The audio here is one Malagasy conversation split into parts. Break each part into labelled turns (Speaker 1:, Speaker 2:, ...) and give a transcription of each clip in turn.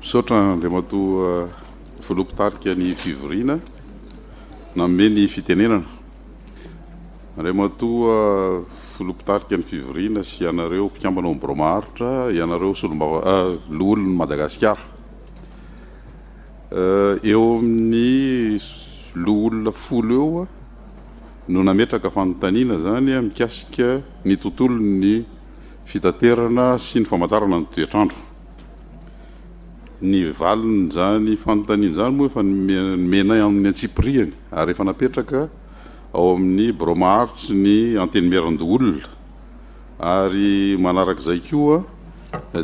Speaker 1: Misaotra Andriamatoa Filoha Mpitarika ny Fivoriana nanome ny fitenenana. Andriamatoa Filoha Mpitarika ny Fivoriana sy ianareo mpikambana ao amin'ny Biraomaharitra, ianareo Solombava, Loholon'i Madagasikara. Eo amin'ny loholona folo eo no nametraka fanontaniana izany mikasika ny tontolon'ny fitaterana sy ny famantarana ny toetr'andro. Ny valin'izany fanontaniana izany moa efa nomenay amin'ny antsipiriany ary efa napetraka ao amin'ny birao maharitry ny Antenimierandoholona ary manarak'izay koa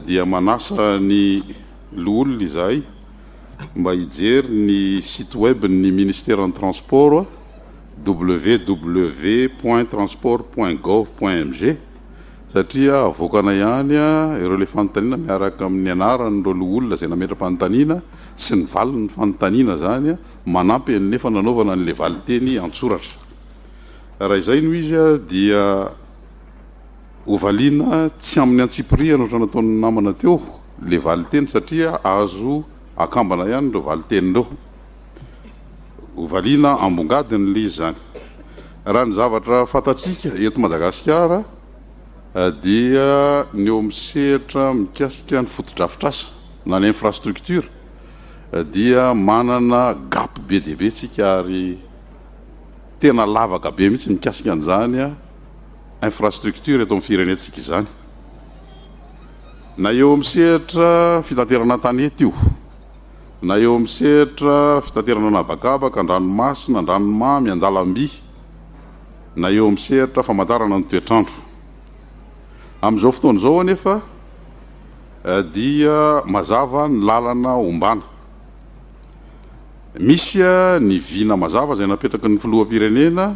Speaker 1: dia manasa ny Loholona izahay mba hijery ny site web ny Ministeran'ny Transport, www.transport.gov.mg, satria avoakana ihany ireo ilay fanontaniana miaraka amin'ny anaran'ireo loholona izay nametra-panontaniana sy ny valin'ny fanontaniana izany manampy anefa nanaovana an'ilay valinteny an-tsoratra. Raha izay no izy dia. Hovaliana tsy amin'ny antsipirihany ohatran'ny nataon'ny namana teo ilay valinteny satria azo akambana ihany ireo valinteny ireo. Hovaliana ambongadiny ilay izy izany. Raha ny zavatra fantatsika eto Madagasikara dia ny eo amin'ny sehatra mikasika ny fotodrafitrasa na ny infrastructure dia manana gap be dia be tsika ary tena lavaka be mihitsy mikasika an'izany. infrastructure eto amin'ny firenentsika izany na eo amin'ny sehatra fitaterana an-tanety io na eo amin'ny sehatra fitaterana an'habakabaka, an-dranomasina, an-dranomamy, an-dalamby na eo amin'ny sehatra famantarana ny toetr'andro. Amin'izao fotoana izao anefa dia mazava ny lalana ombana. Misy ny vina mazava izay napetraky ny filoham-pirenena.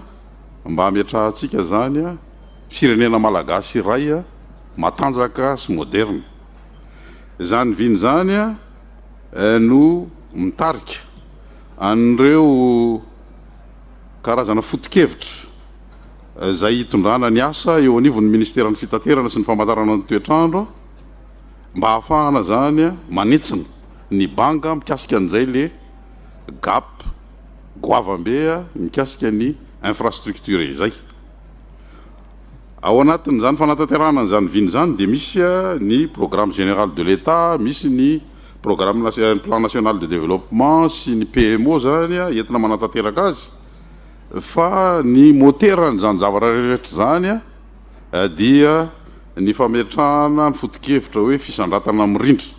Speaker 1: mba hametrahantsika izany firenena malagasy iray matanjaka sy moderina. Izany vina izany no mitarika an'ireo karazana foto-kevitra izay hitondrana ny asa eo anivon'ny Ministeran'ny Fitaterana sy ny Famantarana ny Toetr'andro mba hahafahana izany manitsina ny banga mikasika an'izay le gap goavambe mikasika ny infrastructure izay. Ao anatin'izany fanatanterahana an'izany vina izany dia misy ny programme général de l'Etat, misy ny programme national, plan national de développement sy ny PMO izany entina manatanteraka azy fa ny moteran'izany zavatra rehetra izany dia ny fametrahana ny foto-kevitra hoe fisandratana mirindra.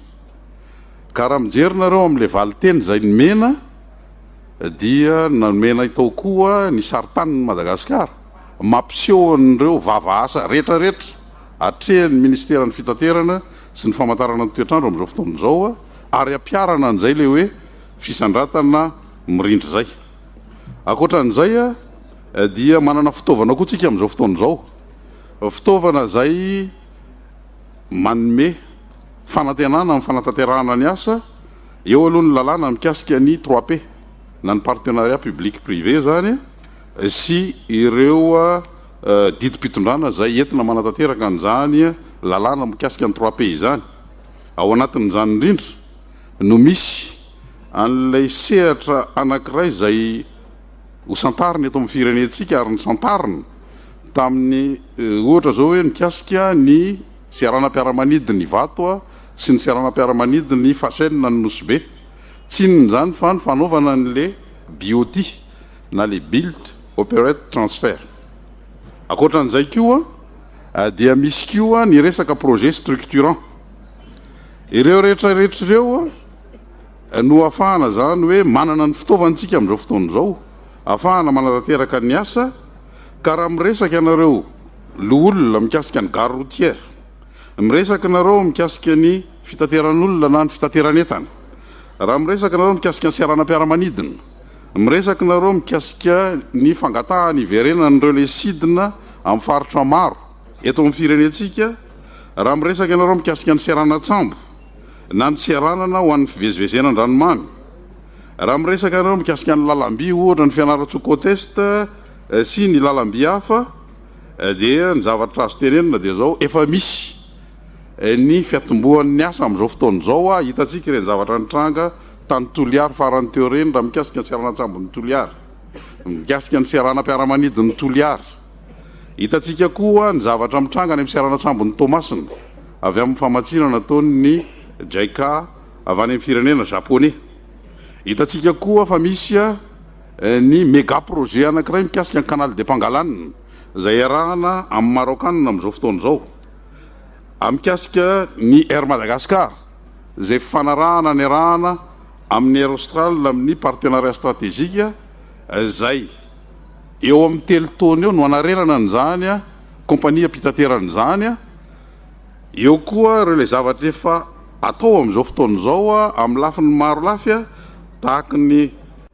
Speaker 1: Ka raha mijery nareo amin'ilay valinteny izay nomena, dia nanome anay tao koa ny sarintanin'i Madagasikara mampiseho an'ireo vava asa rehetra rehetra atrehin'ny Ministeran'ny Fitaterana sy ny Famantarana ny Toetr'andro amin'izao fotoana izao ary ampiharana an'izay ilay hoe fisandratana mirindra izay. Ankoatra an'izay dia manana fitaovana koa tsika amin'izao fotoana izao, fitaovana izay manome fanantenana amin'ny fanatanterahana ny asa Eo aloha ny lalàna mikasika ny trois P, na ny partenariat public privé izany sy ireo didim-pitondrana izay entina manatanteraka an'izany lalàna mikasika ny trois P izany. Ao anatin'izany indrindra no misy an'ilay sehatra anankiray izay hosantarina eto amin'ny firenentsika ary nisantarina tamin'ny ohatra izao hoe mikasika ny Seranam-piaramanidin' i Vato sy ny seranam-piaramanidin' i Fasenina ny Nosy-Be. Tsy inona izany fa ny fanaovana an' ilay BOT na ilay Built Operate Transfer. Ankoatra an' izay koa dia misy koa ny resaka projet structurant. Ireo rehetrarehetra ireo no ahafahana izany hoe manana ny fitaovana isika amin' izao fotoana izao. Afahana manatanteraka ny asa ka raha miresaka ianareo loholona mikasika ny gare routière, miresaka nareo mikasika ny fitateran'olona na ny fitateran'entana, raha miresaka nareo mikasika ny seranam-piaramanidina, miresaka nareo mikasika ny fangatahana hiverenan'ireo le sidina amin'ny faritra maro eto amin'ny firenentsika, raha miresaka ianareo mikasika ny seranan-tsambo, na ny seranana ho an'ny fivezivezena an-dranomamy. Raha miresaka ianareo mikasika ny lalam-by ohatra ny Fianarantsoa Côte Est sy ny lalam-by hafa dia ny zavatra azo tenenina dia izao, efa misy ny fiatombohan'ny asa amin'izao fotoana izao, hitantsika ireny zavatra nitranga tany Toliary farany teo ireny raha mikasika ny seranantsambon'i Toliary, mikasika ny seranam-piaramanidin'i Toliary. Hitantsika koa ny zavatra mitranga any amin'ny seranan-tsambon'i Toamasina avy amin'ny famatsiana nataon'ny JICA avy any amin'ny firenena Japoney. Hitantsika koa fa misy ny mega projet anankiray mikasika ny Canal de Pangalan izay iarahana amin'ny Maraokanina amin'izao fotoana izao mikasika ny Air Madagascar izay fifanarahana niarahana amin'ny Air Austral amin'ny partenariat strategique izay Eo amin'ny telo taona eo no hanarenana an'izany kaompania mpitaterana izany. Eo koa ireo ilay zavatra efa atao amin'izao fotoana izao amin'ny lafiny maro lafy tahaka ny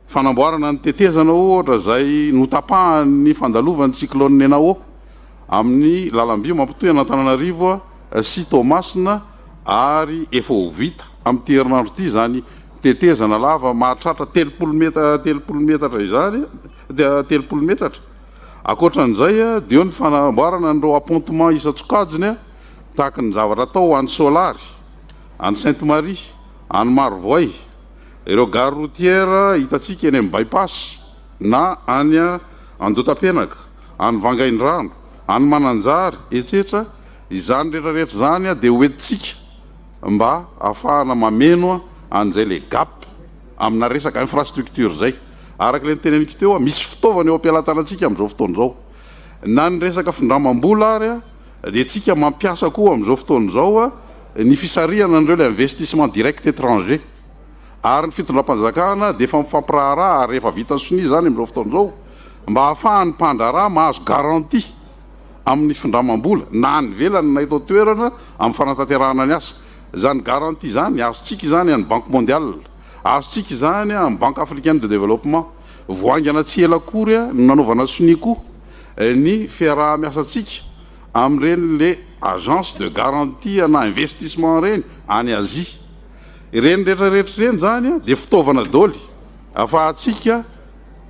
Speaker 1: fanamboarana ny tetezana ohatra izay notapahan'ny fandalovan'ny cyclone Nenao amin'ny lalamby mampitohy an'Antananarivo sy Toamasina. ary efa ho vita amin'ity herinandro ity izany tetezana lava mahatratra telopolo metatra telopolo metatra izany telopolo metatra. Ankoatra an'izay dia eo ny fanamboarana an'ireo appontement isan-tsokajiny tahaka ny zavatra atao any Soalary, any Sainte Marie, any Marovoay, ireo gare routière hitantsika eny amin'ny Bypass na any Andotapenaka, any Vangaindrano, any Mananjary, etsetra. Izany rehetra rehetra izany dia ho entintsika mba hahafahana mameno an'izay ilay gap amina resaka infrastructure izay. Araka ilay niteneniko teo, misy fitaovana eo am-pelatanantsika amin'izao fotoana izao. Na ny resaka findramam-bola ary dia tsika mampiasa koa amin'izao fotoana izao ny fisarihana an'ireo ilay investissement direct étranger. Ary ny fitondram-panjakana dia efa mifampiraharaha ary efa vita sonia izany amin'izao fotoana izao mba hahafahan'ny mpandraharaha mahazo garantie. amin'ny findramam-bola na any ivelany na eto an-toerana amin'ny fanatanterahana ny asa. Izany garantie izany, azontsika izany any Banque Mondiale, azontsika izany any Banque Africaine de Développement. Vao haingana tsy ela akory no nanaovana sonia koa ny fiaraha-miasantsika amin'ireny les agences de garantie ana investissement ireny any Asie. Ireny rehetra rehetra ireny izany dia fitaovana daholo afahantsika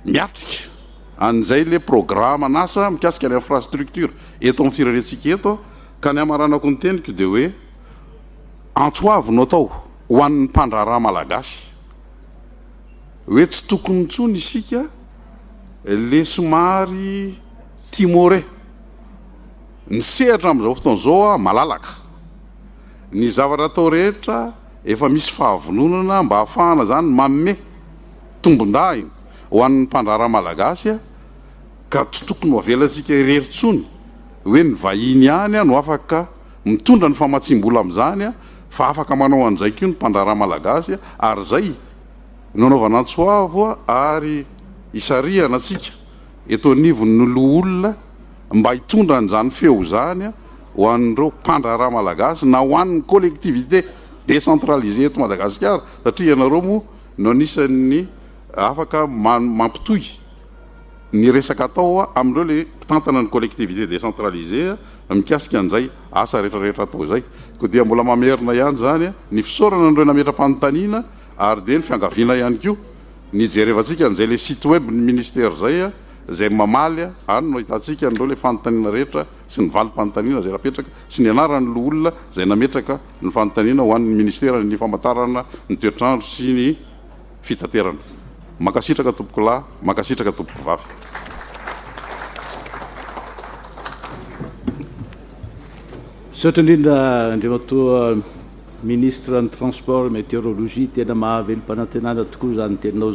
Speaker 1: miatrika. Any izay ilay programan'asa mikasika ny infrastructure eto amin'ny firenentsika eto ka ny hamaranako ny teniko dia hoe antso avo no atao ho an'ny mpandraharaha malagasy hoe tsy tokony intsony isika ilay somary timore ny sehatra amin'izao fotoana izao malalaka ny zavatra atao rehetra efa misy fahavononana mba hahafahana izany manome tombondahiny Ho an'ny mpandraharaha malagasy ka tsy tokony ho avelantsika irery intsony hoe ny vahiny ihany no afaka mitondra ny famatsiam-bola amin'izany fa afaka manao an'izay koa ny mpandraharaha malagasy ary izay no anaovana antsoavo ary isarihana antsika eto anivon'ny loholona mba hitondra an'izany feo izany ho an'ireo mpandraharaha malagasy na ho an'ny collectivité décentralisée eto Madagasikara satria ianareo moa no anisan'ny Afaka mampitohy ny resaka atao amin'ireo ilay mpitantana ny collectivité décentralisée mikasika an'izay asa rehetrarehetra atao izay. Koa dia mbola mamerina ihany izany ny fisaorana an'ireo nametra-panontaniana ary dia ny fiangaviana ihany koa ny hijerevantsika an'izay ilay site web ny ministère izay izay mamaly any no ahitantsika an'ireo ilay fanontaniana rehetra sy ny valim-panontaniana izay napetraka sy ny anaran'ny loholona izay nametraka ny fanontaniana ho an'ny ministère ny famantarana ny toetr'andro sy ny fitaterana. Mankasitraka tompokolahy, mankasitraka tompokovavy.
Speaker 2: Misaotra indrindra Andriamatoa Ministre ny Transport et Météorologie, tena mahavelom-panantenana tokoa izany teninao izany.